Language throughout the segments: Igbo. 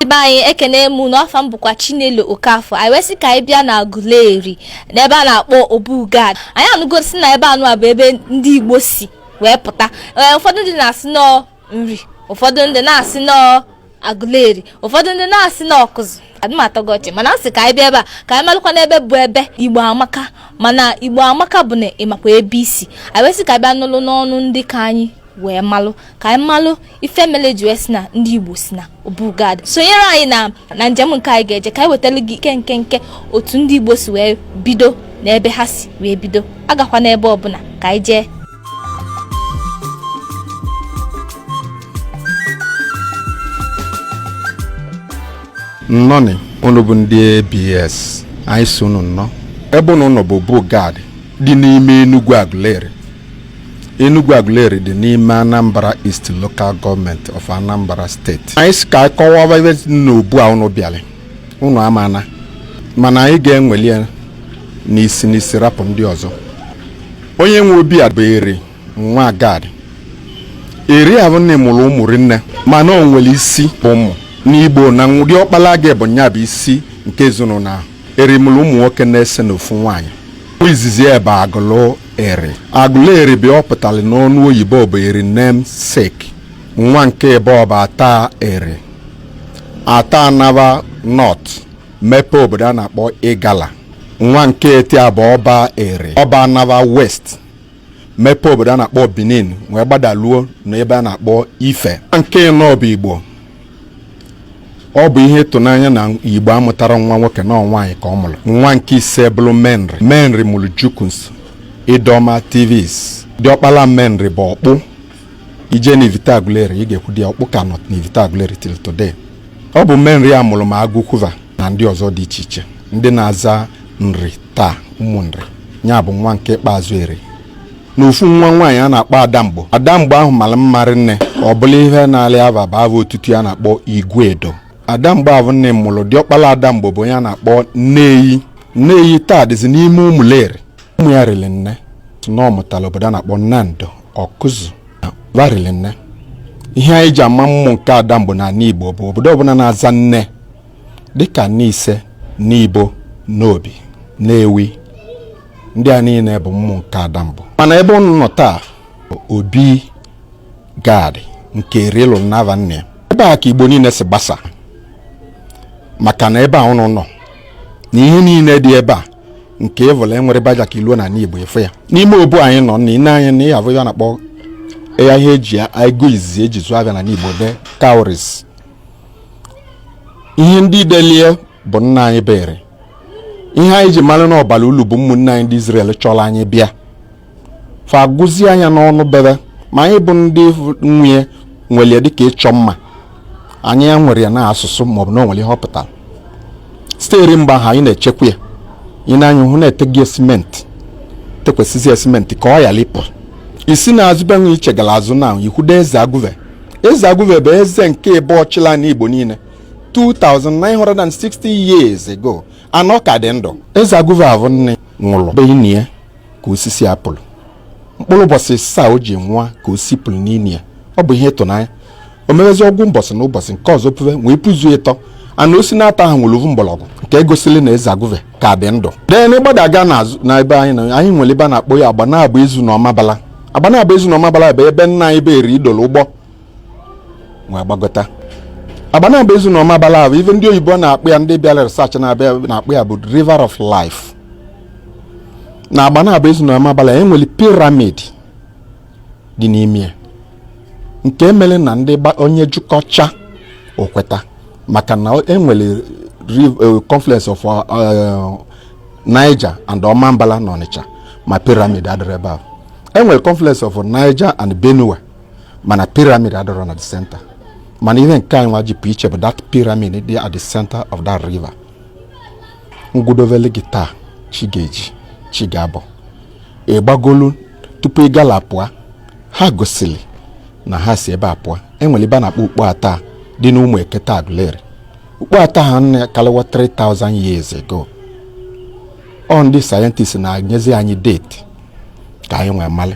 be anyị ekene m unu afa m bụkwa chinelo okafọ anyị wee sị ka anyị bịa na aguleri n'ebe a na-akpọ obugad anyị anụgo sị na ebe anụ a bụ ebe ndị igbo si wee pụta ee ụfọdụ ndị na-asị na ọ nri ụfọdụ ndị na-asị na ọ agụleri ụfọdụ ndị na-asị na ọkụzụ adị m atọ gị ọchị mana a sị ka anyị bịa ebe a ka anyị malụkwanụ ebe bụ ebe igbo amaka mana igbo amaka bụ na ị makwa ebe i si anyị wee sị ka anyị bịa nụlụ n'ọnụ ndị ka anyị wee malụ ka anyị malụ ife mele e ji wee sị na ndị igbo si na obugad sonyere anyị na njem nke anyị ga-eje ka anyị wetara gị ike nkenke otu ndị igbo si wee bido na ebe ha si wee bido agakwana ebe ọbụna ka anyị jee nnọnị unu bụ ndị abs anyị sị unu nnọọ ebe unu nọ bụ obugad dị n'ime Enugwu Aguleri Enugwu Aguleri dị n'ime Anambra East Local Government of Anambra State. Anyị sị ka anyị kọwaa ebe n'obu a unu bịara unu amana mana anyị ga-eweli ya n'isi n'isi rapụ ndị ọzọ onye nwe obi a bụ eri nwa gad eri ahụ nne mụrụ ụmụ rinne mana o nwere isi ụmụ n'igbo na nwa diọkpala gị bụ nya bụ isi nke ezinụlọ ahụ eri mụrụ ụmụ nwoke n'ese na ofu nwaanyị izizi ya bụ agụlụ eri agụlụ eri bụ ọ pụtara n'ọnụ oyibo bụ eri namesake nwa nke ịbụọ bụ ata eri ata anaba north mepe obodo a na-akpọ igala nwa nke etọ ya bụ ọba eri ọba anaba west mepe obodo a na-akpọ benin wee gbadaluo n'ebe a na-akpọ ife nwa nke ịnọ bụ igbo ọ bụ ihe ịtụnanya na igbo amụtarọ nwa nwoke na ọ nwaanyị ka ọ mụrụ nwa nke ise bụrụ menri menri mụrụ jukuns idoma tivs diọkpala menri bụ ọkpụ i jee na ivite aguleri ị ga-ekwudo ya ọkpụ ka nọ na ivite aguleri till today ọ bụ menri a mụrụ ma agụkwu va na ndị ọzọ dị iche iche ndị na-aza nri taa ụmụ nri ya bụ nwa nke ikpeazụ eri na ofu nwa nwaanyị a na-akpọ adamgbo adamgbo ahụ mara mma rinne ọ bụla ihe na-alị ava bụ ava otutu ya na-akpọ iguedo adamgbo ahụ nne mụrụ diọkpala adamgbo bụ onye a na-akpọ nneyi nneyi taa dịzi n'ime ụmụleri ụmụ ya riri nne na ọ mụtara obodo a na-akpọ nando ọkụzụ va riri nne ihe anyị ji ama ụmụ nke adamgbo n'ani igbo bụ obodo ọbụna na-aza nne dịka nise nibo nnobi nnewi ndị a niile bụ ụmụ nke adamgbo mana ebe ụnụ nọ taa obi gad nke eri lụlụ n'ava nna ya ebe a ka igbo niile si gbasa maka na ebe a ụnụ nọ na ihe niile dị ebe a nke ọvụla enwere baja ka iluo na ala igbo ịfụ ya n'ime obu anyị nọ na i nee anya na ihe avụ ya a na-akpọ ya ihe eji ego izizi eji zụọ avịa na igbo the cowries ihe ndị delie bụ nna anyị bụ eri ihe anyị ji mara na ọ bara ulu bụ ụmụnne anyị ndị Izrel chọrọ anyị bịa fa agụzie anya n'ọnụ bebe ma anyị bụ ndị nwe ya were ya dịka ịchọ mma anyị ewerọ ya na asụsụ maọbụ na o nwere ihe ọ pụtara sitere mgbe ahụ anyị na-echekwa ya ị nee anya hụ na-eteghị ya simenti tekwasịzi ya simenti ka ọ ghara ịpụ i si na azụ benwe ichegala azụ na ikwudo eze agụve eze agụve bụ eze nke ịbụọ chịla na igbo niile 2960 years ago anọ ka dị ndụ eze agụve avụ nne nwụrụ be ini ya ka osisi a pulu mkpụrụ ụbọchị ịsaa o ji nwụọ ka osisi puru n'ini ya ọ bụ ihe ịtụnanya o mewezi ọgụ mbọsị na ụbọchị nke ọzọ puve wee puzuo ịtọ mana osisi naatọ ahụ nwere ovu mgbọrọgwụ nke gosili na eze agụve ka dị ndụ then ị gbadaga n'azụ na ebe anyị na anyị nwere ebe a na-akpọ ya agbanabo ezu na ọmabala agbanabo ezu na ọmabala bụ ebe nna anyị bụ eri dolo ụgbọ wee gbagota agbanabo ezu na ọmabala ahụ ife ndị oyibo na-akpọ ya ndị bịara research na-akpọ ya bụ river of life na agbanabo ezu na ọmabala e nwere piramid dị n'ime ya nke mere na ndị onye jụkọcha o kweta maka na enwere eh, confluence of eh, Niger and Omambala na Ọnịcha ma piramid adịrọ ebe ahụ enwere confluence of Niger and Benue mana piramid adịrọ na the center mana ihe nke anyị nwa ji pụ iche bụ that piramid dị at the center of that river m gụdovele gị taa chi ga-eji chi ga-abọ ị gbagolu tupu igala pụọ ha gosiri na ha si ebe a pụọ enwere ebe a na-akpọ ukpo ata dị n'ụmụekete agụleri ukpo ata ahụ anọkalịwa 3000 years ago ọ ndị sayentist na-enyezi anyị date ka anyị wee malị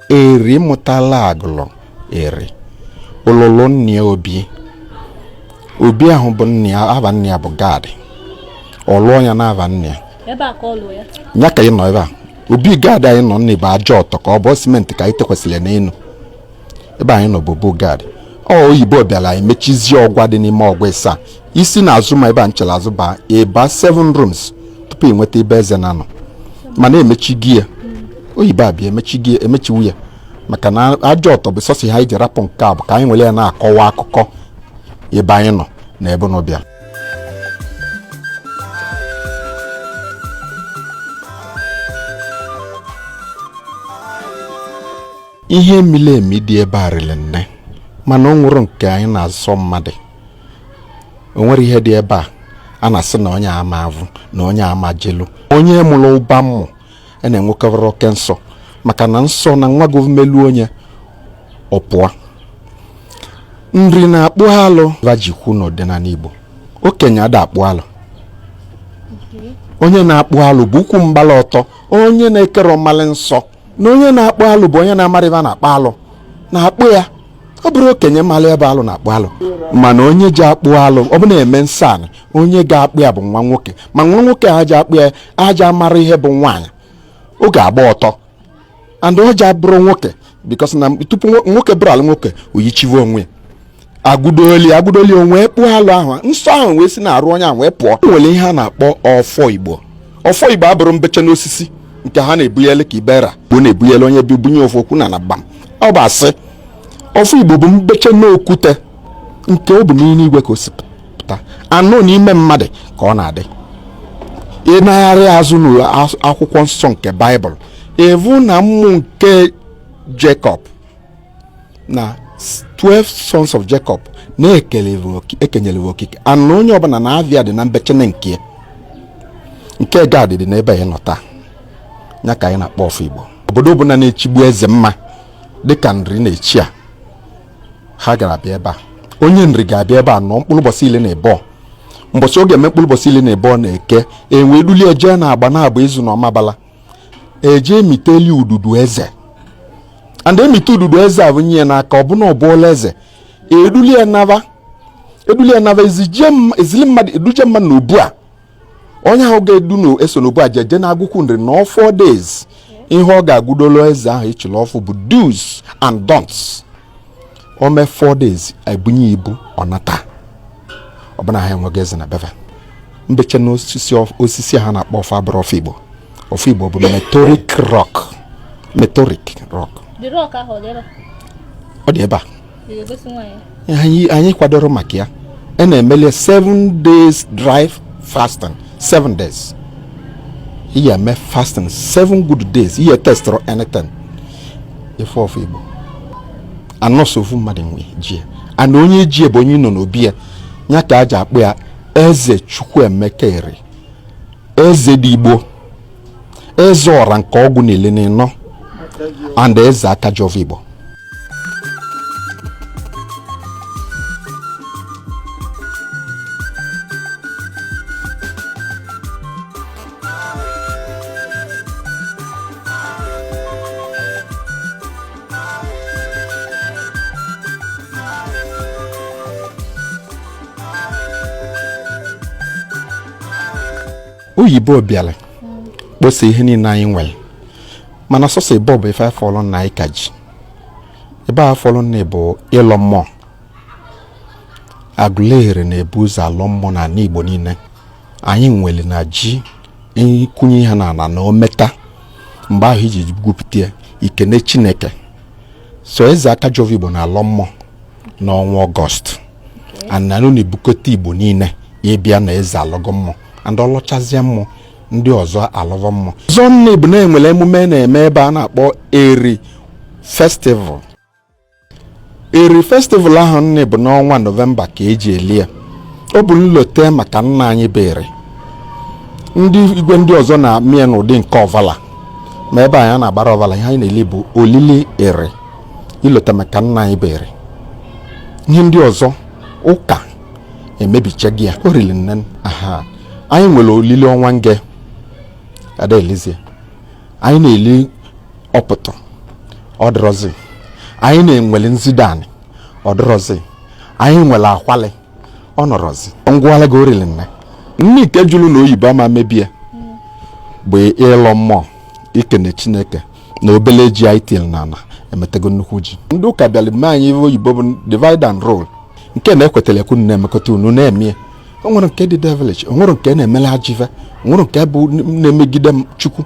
eri mụtala agụlụ eri lụlụ nna ya obi obi ahụ bụ nna ya ava nna ya bụ gad ọ lụọ ya n'ava nna ya ebe a ka ọ lụọ ya ya ka ị nọ ebe a obi gad anyị nọ nne bụ aja ọtọ ka ọ bụ simenti ka anyị tekwasịrị n'elu ebe anyị nọ bụ obu gad ọ oyibo bịara anyị mechizie ọgwa dị n'ime ọgwa ịsaa i si n'azụ ma ebe a nchere azụ baa ị baa 7 rooms tupu ị nweta ebe eze na-anọ mana emechigo ya oyibo abịa emechiwo ya maka na aja ọtọ bụ sọsọ ihe e ji rapụ nke a bụ ka anyị nwere ya na-akọwa akụkọ ebe anyị nọ na ebe unu bịa ihe mili emi dị ebe a rịrị nne mana o nwere nke anyị na-azọ mmadụ o nwere ihe dị ebe a a na-asị na onye ama avụ na onye ama jelu onye mụrụ ụba mmụ a e na-enwekarị oke nsọ maka na nsọ na nwa gọọmelu onye ọ pụa Nri na-akpụ alụ va ji kwu n'ọdịnala Igbo okenye ada akpụ alụ onye na-akpụ alụ bụ ukwu mgbala ọtọ onye na-ekerọ malị nsọ na onye na-akpụ alụ bụ onye na-amarọ ebe a na-akpa alụ na-akpụ ya ọ bụrọ okenye malụ ebe alụ na-akpụ alụ mana onye ji akpụ alụ ọ bụ na e mee nsọ anị onye ga-akpụ ya bụ nwa nwoke ma nwa nwoke a ja-akpụ ya aja mara ihe bụ nwaanyị ọ ga-agba ọtọ and ọ ja-abụrụ nwoke because na tupu nwoke bụrụ alụ nwoke o yichiwe onwe ya agụdoli agụdoli onwe kpụọ alụ ahụ nsọ ahụ wee si n'arụ onye ahụ wee pụọ e nwere ihe a na-akpọ ọfọ Igbo ọfọ Igbo abụrọ mbecha n'osisi nke ha na-ebunyele ka ibera bụ na-ebunyele onye bi bunye ofu okwu na gbam ọ bụ asị ọfọ Igbo bụ mbecha n'okwute nke ọ bụ n'ime igwe ka o si pụta anụ n'ime mmadụ ka ọ na-adị ị nagharịa azụ n'akwụkwọ nsọ nke Baịbụl ị vụ na ụmụ nke Jacob na 12 sons of Jacob na-ekenyere okike anụ onye ọbụla na ava ya dị na mbechene nke nke Gad dị n'ebe anyị nọ taa ya ka anyị na-akpọ ọfọ Igbo obodo ọbụla na-echigbu eze mma dịka Nri na-echi a ha ga-abịa ebe a onye Nri ga-abịa ebe a nọ mkpụrụ ụbọchị ili na ebo mbọchị ọ ga-eme mkpụrụ ụbọchị ili na ebo na Eke e wee dulie ya jee na Agbanabo Ezu na Ọmabala e je emiteli ududu eze and e mite ududu eze e bunye ya n'aka ọ bụ na ọ bụọla eze e dulie ya naba e dulie ya naba ezije m- ezili mmadụ eduje mmadụ na obu a onye ahụ ga-edu na eso n'obu a jeje na Agụkwu Nri na four days ihe ọ ga-agụdolo eze ahụ e chili ọfụụ bụ do's and don'ts o mee four days e bunye ibu ọ nata ọ bụ na ha enwego eze na be va mbeche na osisi ha na-akpọ ọfọ abụrọ ọfọ Igbo ọfọ Igbo bụ meteoric rock meteoric rock ọ dị ebe a anyị kwadoro maka ya a na-emeli seven days dry fasting seven days ị ya-eme fasting seven good days ị ya testirọ anything ife ọvọ igbo anọsọ ofu mmadụ na-eji ya and onye ji ya bụ onye nọ n'obi ya ya ka e ji akpọ ya eze chukwuemeka eri eze dị igbo eze ọra nke ọgwụ n'ili n'ịnọ and eze aka ji ọvọ igbo oyibo bịara kposa ihe niile anyị nwere mana sọsọ ebe ọ bụ ife a fọlụ na anyị ka ji ebe a fọlụ na bụ ịlọ mmụọ agụleri na-ebu ụzọ alọ mmụọ n'ala igbo niile anyị nwere na ji ịkwụnye ihe n'ala na o meta mgbe ahụ iji gwupụta ya i kene chineke so eze aka ji ọvọ igbo na-alọ mmụọ n'ọnwa ọgọst and a nọ na-ebukọta igbo niile ịbịa na eze alọgo mmụọ and ọ lọchazie mmụọ ndị ọzọ alọva mmụọ ọzọ nne bụ na e nwere emume a na-eme ebe a na-akpọ eri festival eri festival ahụ nne bụ n'ọnwa nọvemba ka e ji eli ya ọ bụ nlote maka nna anyị bụ eri ndị igwe ndị ọzọ na-eme ya n'ụdị nke ọvala ma ebe a anyị ana-agbarọ ọvala ihe anyị na-eli bụ olili eri ilote maka nna anyị bụ eri ihe ndị ọzọ ụka emebichago ya oriri nne aha anyị nwere olili ọnwa nge ada elizie anyị na-eli ọpụtụ ọ dịrọzi anyị na-enwele nzidani ọ dịrọzi anyị nwere akwali ọ nọrọzi ngwala gị orili nne nke jụrụ na oyibo ama mebie bụ ịlọ mmụọ ikene chineke na obele ji anyị tinyere n'ala emetego nnukwu ji ndị ụka bịara mee anyị ive oyibo bụ divide and rule nke na-ekwetarọ ka ikwu na-emekọta ọnụ na-eme ya o nwere nke dị devilish o nwere nke na-emelu ajọ ive o nwere nke bụ na-emegide chukwu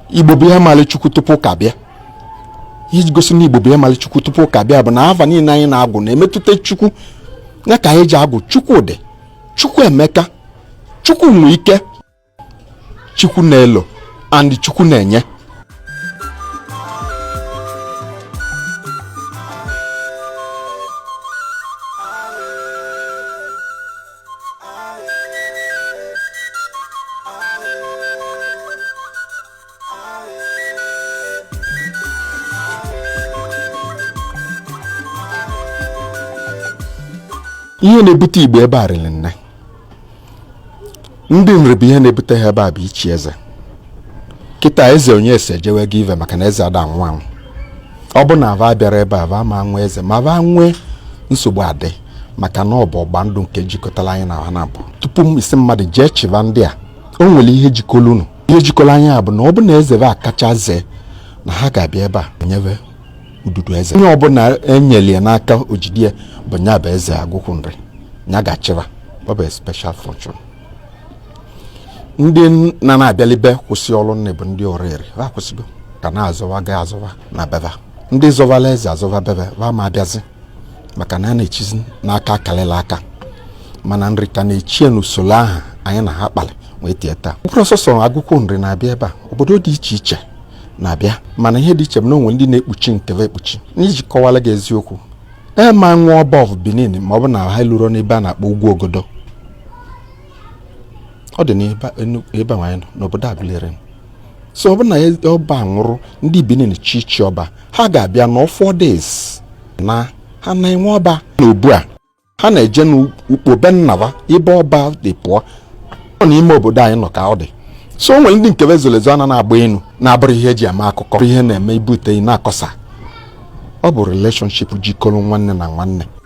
igbo bụ ihe mali chukwu tupu ụka bịa iji gosi na igbo bụ ihe mali chukwu tupu ụka bịa bụ na ava niile anyị na-agwụ na-emetụta chukwu ya ka anyị ji agwụ chukwu dị chukwu emeka chukwu nwe ike chukwu na-elo and chukwu na-enye ihe na-ebute igbo ebe a riri nne ndị nri bụ ihe na-ebute ha ebe a bụ ichi eze kịta eze onyeso jewego ive maka na eze ada anwụ anwụ ọ bụ na va abịarọ ebe a va ma nwe eze ma va nwee nsogbu adị maka na ọ bụ ịgba ndụ nke jikọtara anyị na ha na-abụ tupu ị sị mmadụ jee chịba ndị a o nwere ihe jikọrọ unu ihe jikọrọ anyị a bụ na ọ bụ na eze va akacha zee na ha ga-abịa ebe a nye va ududu eze onye ọbụla enyere ya n'aka o jidie bụ nya bụ eze agụkwụ nri nya ga-achị va ọ bụ special fortune ndị na na-abịalibe kwụsị ọrụ nne bụ ndị ọraeri ha kwụsịgo ka na-azọwa ga azọwa na be va ndị zọvala eze azọva be va va ma abịazi maka na a na-echizi n'aka kalịlị aka mana nri ka na-echie n'usoro ahụ anyị na ha kpalị wee tie taa ọ bụrọ sọsọ agụkwụ nri na-abịa ebe a obodo dị iche iche na-abịa mana ihe dị iche bụ na o nwe ndị na-ekpuchi nke va ekpuchi n'iji kọwara gị eziokwu e ma nwe ọba of benin ma ọ bụ na ha lurọ n'ebe a na-akpọ ugwu ogodo ọ dị n'ebe anyị nọ n'obodo agụleri so ọ bụrụ na e- ọba nwụrụ ndị benin chọọ ichi ọba ha ga-abịa nọọ four days na ha na-enwe ọba n'obu a ha na-eje n'ukpo be nna va ebe ọba si pụọ ọ n'ime obodo anyị nọ ka ọ dị so o nwere ndị nke va zolu ezo ana na-agba enu na-abụrọ ihe eji eme akụkọ ihe na-eme i bute na-akọsa ọ bụ relationship jikọrọ nwanne na nwanne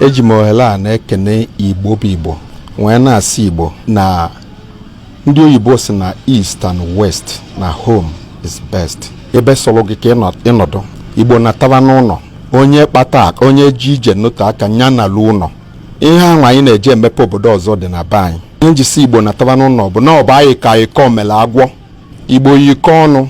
eji m ohere a na-ekene igbo bụ igbo wee na-asị igbo na ndị oyibo sị na east and west na home is best ebe sọrọ gị ka ị nọdụ igbo nataba n'ụlọ onye kpata onye ji ije n'otu aka nya nalu ụlọ ihe ahụ anyị na-eje emepe obodo ọzọ dị na be anyị ihe m ji sị igbo nataba n'ụlọ bụ na ọ bụ anyị ka ịkọ mele agwọ igbo yikọọ ọnụ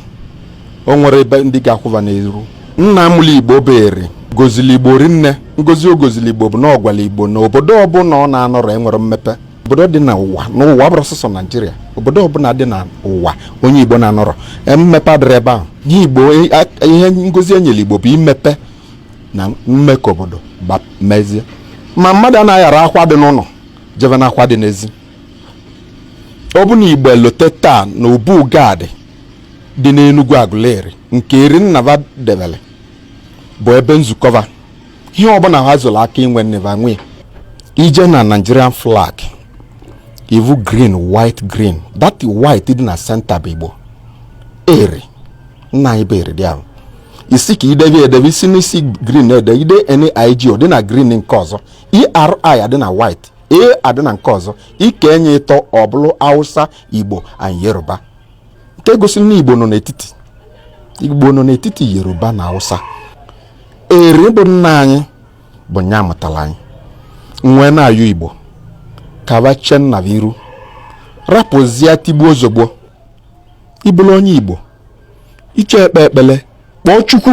o nwerọ ndị ga-akwụ va n'iru nna mụlụ igbo bụ eri gozili igbo rinne ngozi o gozili igbo bụ na ọ gwala igbo na obodo ọbụla ọ na-anọrọ enwerọ mmepe obodo dị n'ụwa n'ụwa abụrọ sọsọ naijiria obodo ọbụla dị n'ụwa onye igbo na-anọrọ e, mmepe adịrọ ebe ahụ ihe igbo e, ihe ngozi enyere igbo bụ imepe na ime ka obodo mezie ma mmadụ anaghị ara akwa dị n'ụlọ jebe n'akwa dị n'ezi ọ bụ na Igbo elote taa na obu gad dị n'Enugwu Aguleri nke Eri nna va debere bụ ebe nzukọ va ihe ọbụla ha zụrụ aka inwe nne va nwee i je na Nigerian flag ị vụ green white green that white dị na senta bụ Igbo eri nna anyị bụ eri dị ahụ isi ka idebe edebe isi n'isi green ede ide NIG ọ dị na green nke ọzọ ERI adị na white A adị na nke ọzọ i kee nya ịtọ ọ bụrụ Hausa Igbo and Yoruba nke gosiri na Igbo nọ n'etiti Igbo nọ n'etiti Yoruba na Hausa eri bụ nna anyị bụ nya mụtara anyị nwee na-ayọ Igbo ka va chenna iru rapụzie tigbuo zọgbuo ị bụrụ onye Igbo iche ekpe ekpele kpọọ Chukwu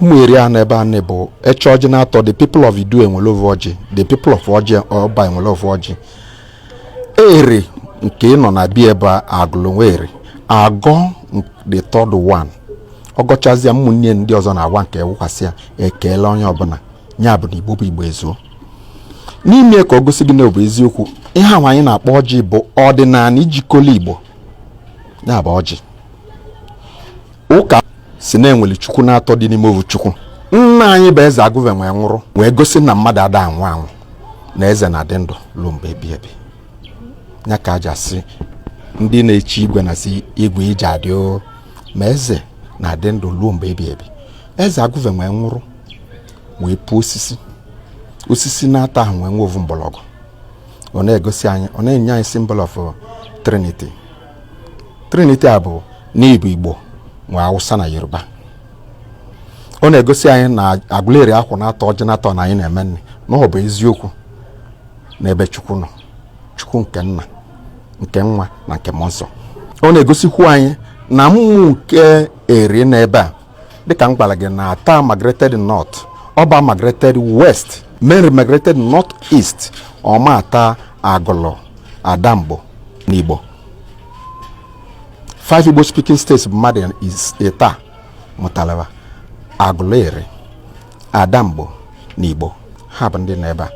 ụmụ eri anọ ebe a na-bụ eche ọjị naatọ the people of idu ewere ovu ọjị the people of ọjị ọba ewere ovu ọjị eri nke nọ na bi ebe a agụlụ nwa eri agọọ the third one ọ gọchazịa ụmụnne ndị ọzọ na-awa nke wụkwasị ya ekele onye ọbụla ya bụ na igbo bụ igbo ezuo n'ime ka ọ gosi gị na ọ bụ eziokwu ihe ahụ anyị na-akpọ ọjị bụ ọdịnala jikọla igbo ya bụ ọjị ụka sị na e nwere chukwu naatọ dị n'ime ovu chukwu nna anyị bụ eze agụve nwee nwụrụ wee gosi na mmadụ ada anwụ anwụ na eze na-adị ndụ ruo mgbe ebi ebi ya ka e ji asị ndị na-echi igwe na-asị igwe i je-adị o ma eze na-adị ndụ ruo mgbe ebi ebi eze agụve nwee nwụrụ wee puo osisi osisi naatọ ahụ nwee nwe ovu mgbọrọgwụ ọ na-egosi anyị ọ na-enye anyị symbol of trinity trinity a bụ n'ịbụ igbo nwe awụsa na yoruba ọ na-egosi anyị na agụleri akwụ naatọ ọjị naatọ na anyị na-eme nri na ọ bụ eziokwu n'ebe chukwu nọ chukwu nke nna nke nwa na nke mmụọ nsọ ọ na-egosikwu anyị na mmụọ nke eri nọ ebe a dịka m gwara gị na Atta migrated north ọba migrated west Menri migrated north east ọma ata agụlụ adamgbo na igbo five igbo speaking states bụ mmadụ is- ịtọ mụtala va agụlụ eri adamgbo na igbo ha bụ ndị nọ ebe a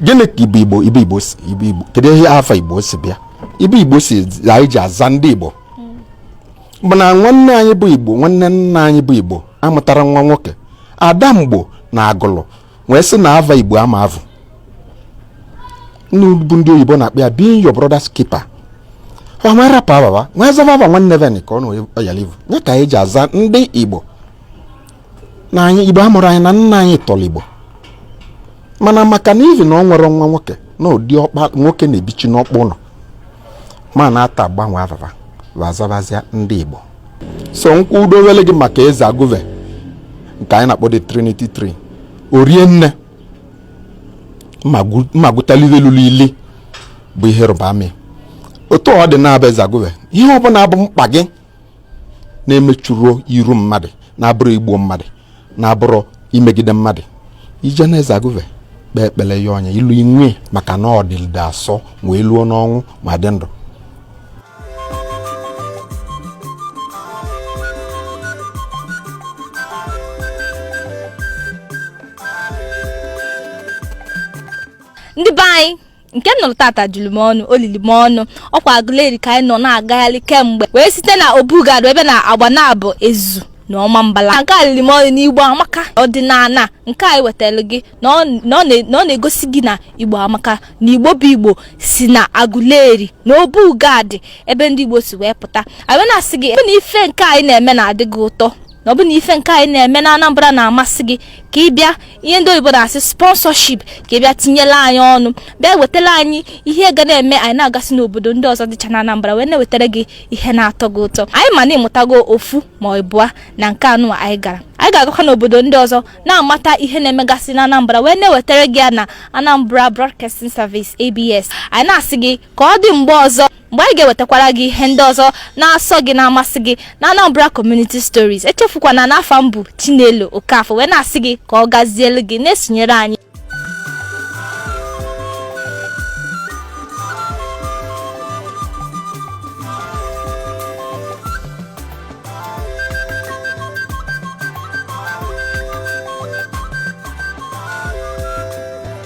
gịnị ka ibe igbo ibe igbo si ibe igbo kedu ihe ava igbo si bịa ibe igbo si anyị ji aza ndị igbo bụ na nwanne anyị bụ igbo nwanne nna anyị bụ igbo amụtarọ nwa nwoke adamgbo na agụlụ wee sị na ava igbo ama evu bụ ndị oyibo na-akpọ ya being your brother's keeper va nwee rapụ ava va nwee zava ava nwanne va nị ka ọ na ọ yalị ivu nya ka anyị ji aza ndị igbo na anyị igbo a mụrụ anyị na nna anyị tọrọ igbo mana maka na ihi na ọ nwere nwa nwoke na ụdị ọkpa nwoke na-ebichi n'ọkpụ ụlọ ma na-ata agbanwe ava va wa zabazia ndị igbo so m kwudowele gị maka eze agụve nke anyị na-akpọ the trinity tree orie nne mmagụtalive lụrụ ili bụ ihe ịrịba ama otu ọ dị na-abụ eze agụve ihe ọbụla bụ mkpa gị na-emechurọ iru mmadụ na-abụrọ igbu mmadụ na-abụrọ imegide mmadụ i je na eze agụve kpee ekpere ya ọ nye ilu inwe maka na ọ dịlide asọ wee luo n'ọnwụ ma dị ndụ ndị be anyị nke m nụrụ tata juru m ọnụ o lili m ọnụ ọkwa agụleri ka anyị nọ na-agagharị kemgbe wee site na obu gad ebe na agbanabo ezu na ọmambala nke a lili m ọnụ na igbo amaka ọdịnala nke anyị wetara gị na ọ na ọ na- na ọ na-egosi gị na igbo amaka na igbo bụ igbo si na agụleri na obu gad ebe ndị igbo si wee pụta anyị wee na-asị gị ebe na ife nke anyị na-eme na-adị gị ụtọ na ọ bụ na ife nke anyị na-eme na Anambra na-amasị gị ka ị bịa ihe ndị oyibo na-asị sponsorship ka ị bịa tinyelụ anyị ọnụ bịa wetara anyị ihe ga na-eme anyị na-agasị n'obodo ndị ọzọ dịcha na Anambra wee na-ewetara gị ihe na-atọ gị ụtọ anyị ma na ị mụtago ofu ma ịbụa na nke anụ anyị gara anyị ga-agakwa n'obodo ndị ọzọ na-amata ihe na-emegasị na Anambra wee na-ewetara gị ya na Anambra Broadcasting Service ABS anyị na-asị gị ka ọ dị mgbe ọzọ mgbe anyị ga-ewetakwara gị ihe ndị ọzọ na-asọ gị na-amasị gị na Anambra Community Stories echefukwana na afa m bụ Chinelo Okafọ wee na-asị gị ka ọ gazielu gị na-esonyere anyị